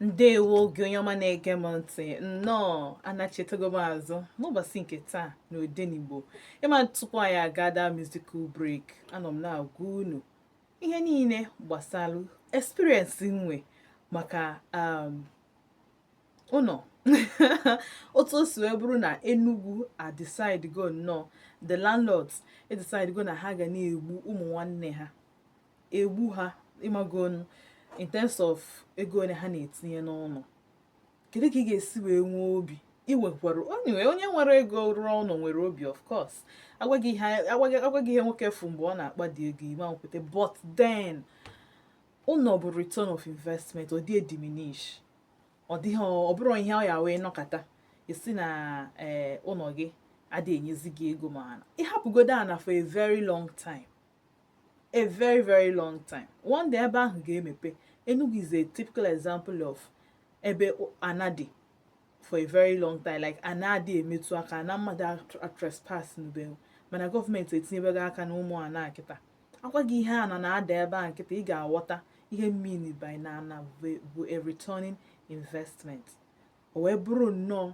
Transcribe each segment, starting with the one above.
ndewo gị onye ọma na-ege m ntị nnọọ anachitago m azụ n'ụbọchị nke taa na odenigbo ị ma tupu anyị agaa the musical break anọ m na-agwa unu ihe niile gbasara experience m nwe maka um, ụnọ otu o si wee bụrụ na Enugu adecide go nnọọ the landlords e decide go na ha ga na-egbu ụmụ nwanne ha egbu ha ị magonu in terms of ego ole ha na-etinye n'ụlọ kedu ka ị ga-esi wee nwee obi iwekwara onye onye nwere ego rụọ ụlọ nwere obi of course a gwa gị ihe a gwa gị a gwa gị ihe nwoke fụ mgbe ọ na-akpa the ego ị ma-ekweta but then ụlọ bụ return of investment ọ dị ediminish ọ dịghị ọ bụrọ ihe ọ ya wee nọkata ị sị na eh, ụlọ gị adịghị enyezi gị ego mana ị hapụgodo ana for a very long time a very very long time one day ebe ahụ ga-emepe Enugu is a typical example of ebe ana dị for a very long time like ana adị emetụ aka ana mmadụ atrespas n'ube mana gọọmenti etinyebego aka na ụmụ ana kịta a gwa gị ihe ana na-ada ebe a kịta ị ga-aghọta ihe m mean by na ana bụ a returning investment o wee bụrụ nnọọ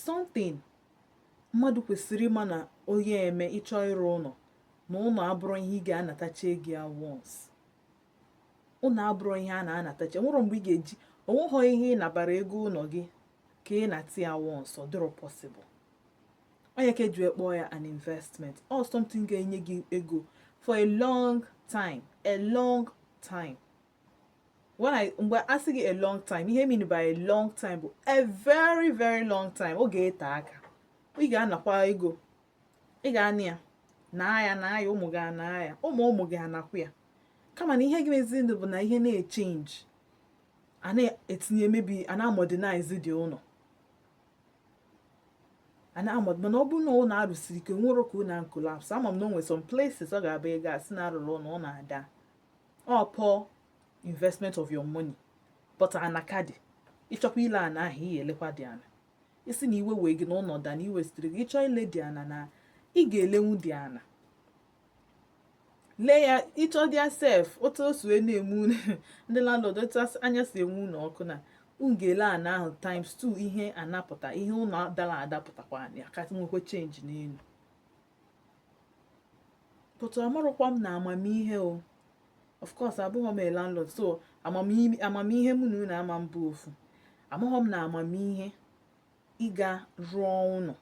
something mmadụ kwesịrị ịma na onye eme ị chọọ ịrụ ụlọ na ụlọ abụrọ ihe ị ga-anatacha ego ya once ụlọ abụrụ ihe a na-anatacha nwerọ mgbe ị ga-eji o nweghọ ihe ị nabara ego ụlọ gị ka ị nata ya once ọ dịrọ possible ọ ya ka e ji akpọ ya an investment or something ga-enye gị ego for a long time a long time when I mgbe a sị gị a long time ihe m mean by a long time bụ a very very long time ọ ga-ete aka ị ga-anakwa ego ị ga-ana ya na ya na ya ụmụ gị ana ya ụmụ ụmụ gị anakwa ya kama na ihe ga-emezinụ bụ na ihe na-echange a na-etinye maybe a na-amodernize the ụlọ a na-amod mana ọ bụrụ na ụlọ arụsiri ike nwere ka ụlọ collapse ama m na o nwere some places ọ ga-abụgo a sị na a rụrụ ụlọ ọ na-ada ọ poor investment of your money but ana ka dị ị chọkwa ile ana ahụ ị ya-elekwa the ana ị sị na iwe wee gị na ụlọ da na iwe sitere gị ị chọ ile the ana na ị ga-elenwu the ana lee ya ị chọdị sef otu o si na-eme unu ndị landlord otu anya si enwu unu ọkụ na unu ga-ele ana ahụ times 2 ihe anapụta ihe ụlọ dara ada pụtakwa ya ka nwekwa change n'elu but amarọkwa m na amamihe o of course abụghị m a landlord so amamihe mụ na unu ama mbụ ofu amaghị m na amamihe ịga rụọ ụlọ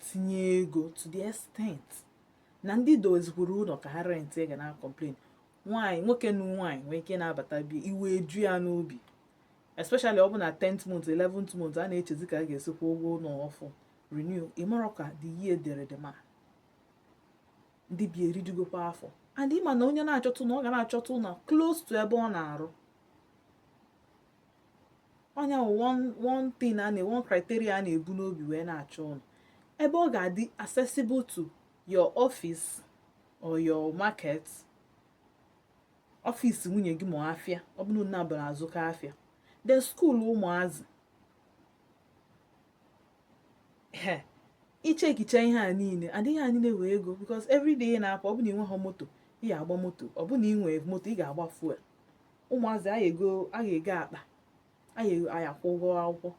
tinye ego to the extent na ndị dozikwuru ụlọ ka ha rent ga na-complain nwaanyị nwoke na nwaanyị nwee ike na-abata bi iwe ju ya n'obi especially ọ bụ na 10th month 11th month a na-echezi ka a ga-esi kwụọ ụgwọ ụlọ ọfụ renew ịmarọ ka the year dere dị ma ndị bi erijugokwa afọ and ịma na onye na-achọta ụlọ ga na-achọta ụlọ close to ebe ọ na-arụ onye one thing a na one criteria a na-ebu n'obi wee na-achọ ụlọ ebe ọ ga-adị accessible to your office or your market ọfịs nwunye gị ma afịa ọ bụrụ na abụrụ azụka afịa then skuul ụmụazị he i checkicha ihe a niile and ihe a niile na-ewe ego because every day ị na-apụ ọ bụ na ị nweghị moto ị ga-agba moto ọ bụ na ị nwere moto ị ga-agba fuel ụmụazị anyị ego anyị ego akpa anyị akwụ ụgwọ akwụkwọ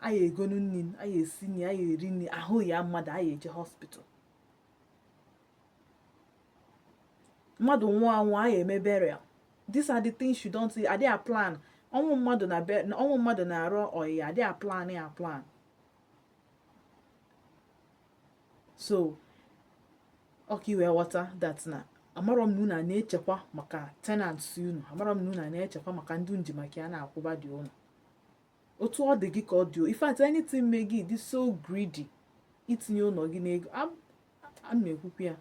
anyị egonu nri anyị esi nri anyị eri nri ahụ yaa mmadụ anyị eje hospital mmadụ nwụọ anwụ anyị eme burial these are the things you don't see adịghị plan ọnwụ mmadụ na ọnwụ mmadụ na arụ ọyịa adịghị plan ya plan so ọ ka i wee ghọta that na amarọ m na unu na-echekwa maka tenants unu amarọ m na unu na-echekwa maka ndị nji maka ya na-akwụba dị unu otu ọ dị gị ka ọ dị o in fact anything mee gị dị so greedy itinye ụlọ gị n'ego a na-ekwu okwu ya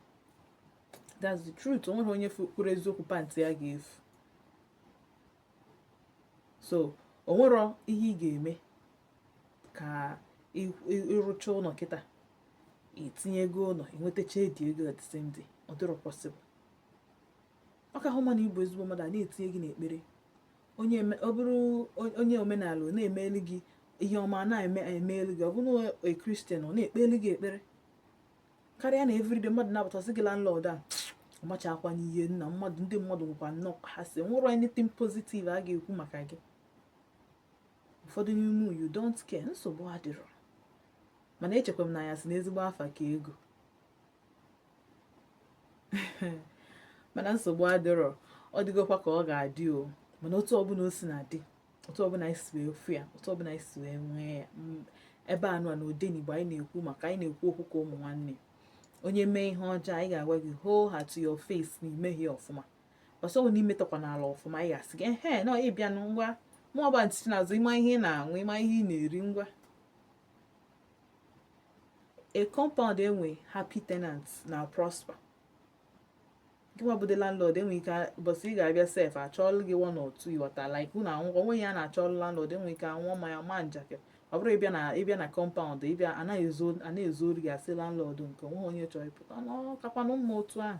that's the truth o nwerọ onye kwuru eziokwu pantị ya ga-efu so o nwerọ ihe ị ga-eme ka ị rụchaa ụlọ kịta i tinye ego ụlọ i nwetachaa the ego at the same day ọ dịrọ possible ọ kahọ mma na ị bụ ezigbo mmadụ a na-etinye gị n'ekpere onye eme- ọ bụrụ on- onye omenala ọ na-emeli gị ihe ọma a na-eme emeli gị ọ bụrụ na a christian ọ na-ekpeli gị ekpere karịa na everyday mmadụ na-abata sị gị landlord a ọmacha akwa n'ihe nna mmadụ ndị mmadụ nwekwa nnọọ ha si nwerọ anything positive a ga-ekwu maka gị ụfọdụ n'ime unu, you don't care nsogbu adịrọ mana echekwa m na a ya-asị na ezigbo afa ka ego mana nsogbu adịrọ ọ dịgokwa ka ọ ga-adị o mana otu ọbụla o si na-adị otu ọbụla anyị si wee fụ ya otu ọbụla anyị si wee nwee ya ebe nụ a na odenigbo anyị na-ekwu maka anyị na-ekwu okwu ka ụmụ nwanne onye mee ihe ọjọọ anyị ga-agwa gị hoo ha to your face na i mehie ọfụma also ọ bụ na i metakwa n'ala ọfụma anyị ga-asị gị ehe na ịbịa ngwa mụọba ntị n'azụ ịma ihe ị na-aṅụ ịma ihe ị na-eri ngwa a compound nwe happy tenants na prosper gịnwa bụ the landlord enwe ike ụbọchị ị ga-abịa sef achọọlụ gị one or two ị ghọta like unu anwụkọ onwe ya na-achọọlụ landlord enwe ike anwụọ mmanya ma njakịrị ọ bụrụ ị bịa na ị bịa na compound ị bịa anaghị ezo anaghị ezoro gị asị landlord nke o nwe onye chọrọ ịpụta na ọ kakwanụ mma otu ahụ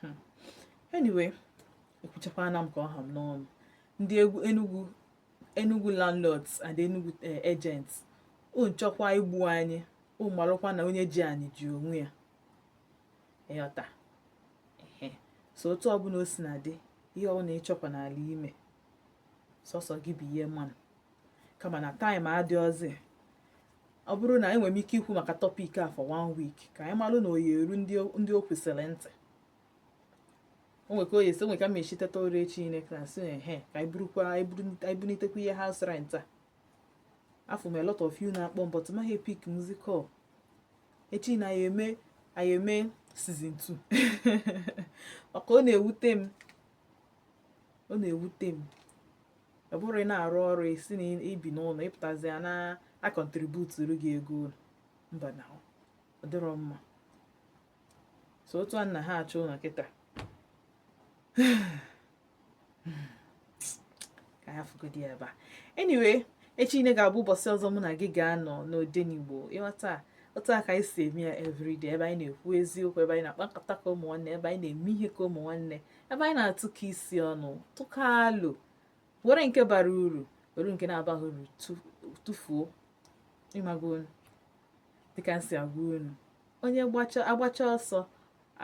hmm. anyway ekwuchakwana m ka ọ ha m n'ọnụ ndị enugu enugu landlords and enugu eh, agents unu chọkwa igbu anyị unu marụkwa na onye ji anyị ji onwe ya ị ghọta so otu ọbụla o si na dị ihe ọbụla ị chọkwa n'ala ime sọsọ gị bụ ihe mmanụ kama na time adịọzi ọ bụrụ na enwere m ike ikwu maka topic a for one week ka anyị malụ na ọ ya-eru ndị o kwesịrị ntị o nwere ka oyi esi o nwere ka m echi teta ụra echi ine class ehe ka anyị burukwa anyị bunitekwa ihe house rent a afụ m a lot of you na-akpọ m but m anaghị epick music call echi na anyị eme anyị eme season 2 maka ọ na-ewute m ọ na-ewute m ọ bụrụ ị na-arụ ọrụ ị sị na i bi n'ụlọ ị pụtazie a na-acontributuru gị ego ụlọ mba na ọ dịrọ mma so otu a na ha achọ ụlọ kịta ka anyị hafụgodi ebe a anyway echi niile ga-abụ ụbọchị ọzọ mụ na gị ga-anọ n'odenigbo ị ghọta otu a ka anyị si eme ya everyday ebe anyị na-ekwu eziokwu ebe anyị na-akpa nkata ka ụmụ nwanne ebe anyị na-eme ihe ka ụmụ nwanne ebe anyị na-atụkọ isi ọnụ tụkọ alo were nke bara uru were nke na-abaghị uru tụfuo ị magonụ dịka m si agwa unu onye agbacha ọsọ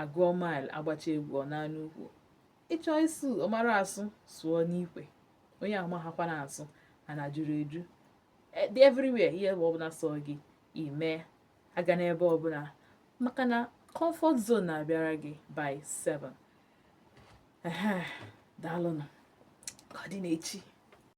agụọ mile agbacha egwu ọ naa n'ukwu ị chọ ịsụ ị mara asụ sụọ n'ikwe onye amahakwanụ asụ ana juru eju e, everywhere ihe bụ ọbụla sọ gị ime aga n'ebe ọbụla maka na comfort zone na-abịara gị by 7 daalụnụ ka ọ dị n'echi